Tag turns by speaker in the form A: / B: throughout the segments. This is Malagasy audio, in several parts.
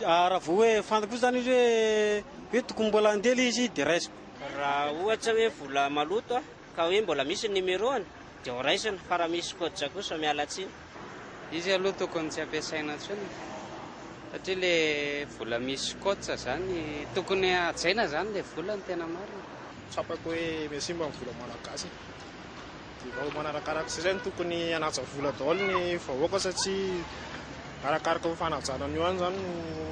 A: Raha vao hoe fantako kosa zany hoe hoe tokony mbola handeha le izy de raisiko. Raha ohatra
B: hoe vola maloto aho ka hoe mbola misy ny numéro-ny de ho raisina fa raha misy code kosa miala tsiny. Izy aloha
C: tokony tsy ampiasaina intsony satria le vola misy code zany tokony hajaina zany le vola ny tena marina. Tsapako hoe
D: miha simba ny vola malagasy e. Dia vao manarakaraka izay no tokony hanaja vola daholo ny vahoaka satria arakaraka io fanajana an'io ihany izany no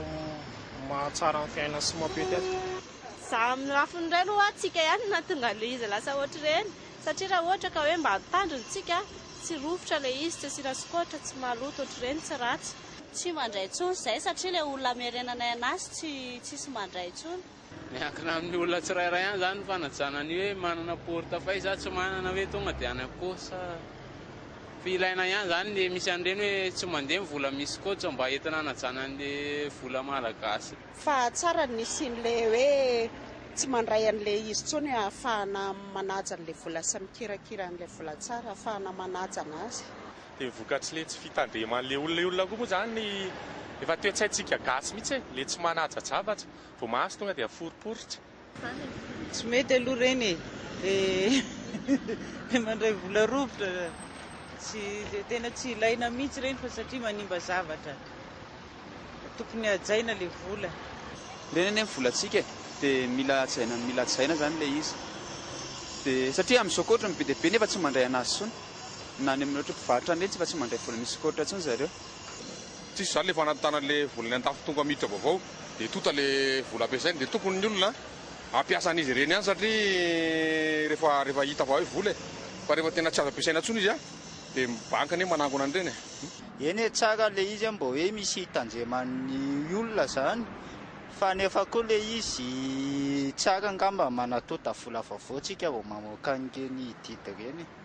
D: mahatsara ny fiainana sy mampety azy. Za amin'ny
E: lafiny iray aloha antsika ihany no nahatonga an'ilay izy lasa ohatr'ireny satria raha ohatra ka hoe mba mitandrina isika, tsy rovitra ilay izy, tsy asiana skoatra, tsy maloto ohatr'ireny, tsy ratsy. Tsy mandray
F: intsony izay satria ilay olona hamerenanay anazy tsy tsisy mandray intsony. Miankina amin'ny
C: olona tsirairay ihany izany ny fanajana ny hoe manana porte fay sa tsy manana hoe tonga dia any akoho sa fa ilaina ihany izany ny misy an'ireny hoe tsy mandeha ny vola misy coach mba entina hanajana an'ilay vola malagasy. Fa tsara
G: ny hisian'ilay hoe tsy mandray an'ilay izy intsony hoe ahafahana manaja an'ilay vola sy mikirakira an'ilay vola tsara ahafahana manaja an'azy. Dia ny vokatr'ilay
H: tsy fitandreman'ilay olona io olona koa moa izany efa toetsaintsika gasy mihitsy e, ilay tsy manaja zavatra. Vao mahazo tonga dia aforiporitra. Tsy
I: mety aloha ireny e! Dia mandray vola rovitra tsy tena tsy ilaina mihitsy ireny fa satria manimba zavatra. Tokony hajaina ilay vola. Ireny anie ny
J: volantsika e! Dia mila hajaina mila hajaina izany ilay izy. Dia satria amin'izao koa ohatran'ny be dia be nefa tsy mandray anazy intsony. Na any amin'ireo ohatry ny mpivarotra ireny tsy efa tsy mandray vola misy koa ohatran'intsony zareo. Tsisy
H: zany le efa anaty tanany le vola any antafo tonga miditra vaovao de tonta le vola ampiasainy de tokony ny olona ampiasa an'izy ireny ihany satria rehefa rehefa hita fa hoe vola e fa rehefa tena tsy azo ampiasaina tsony izy a de ny banky anie manangona an'ireny e. Eny e tsara
K: le izy a mba hoe misy hitandreman'ny olona zany fa nefa koa le izy tsara angamba manatonta vola vaovao tsika vao mamoaka an'ireny didy ireny e.